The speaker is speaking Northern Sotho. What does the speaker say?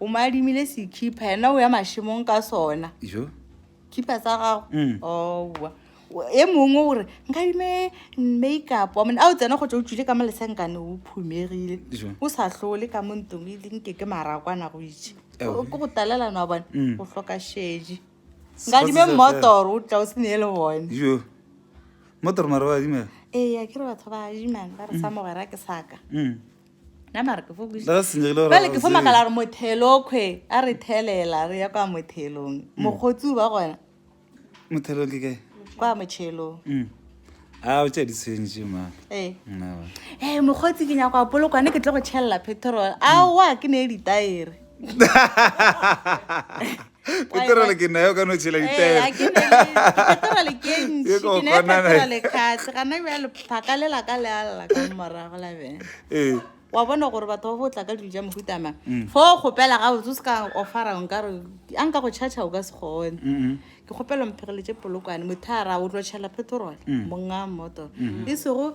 o mo adimile sekhipha yena o ya mašemong ka sona jo khipha sa gago Mm. owa e mongwe o re nkadime makeup wa mone a o tsena go tsa o tswile ka mo lesenkane o phumegile jo o sa tlole ka mo ntong e leng ke ke marakwana go itše Ewa. ke go talelana wa bone Mm. o hloka šedi Sports nkadime is a mmotoro o tla o se nee le bone jo motoro mara wa dimela ee a ke re batho ba adimang ba re sa mogwera ke saka Mm. bale ke fo makala gore mothelo kgwe a re thelela re ya kwa mothelong hmm. mokgotsi ba gona mothelo ke kae kwa motšhelong hmm. a o tša ditshwentše ma ee eh. mokgotsi ke nyako a polokwane ke tlo go tšhelela petrol aowa ke ne e ditaere peterole ke nayo ka no tšhela ditaelekgatlhakalela ka lealela ka morago la bene wa bona gore batho ba botla ka dilo ja mohutama mm. fo o kgopela ga botse o se ka ofara nkare a nka go charge o ka se kgone ke kgopela mphegeletse polokwane mothara o tlo tšhela petrol mm. monga motor mm-hmm. e sego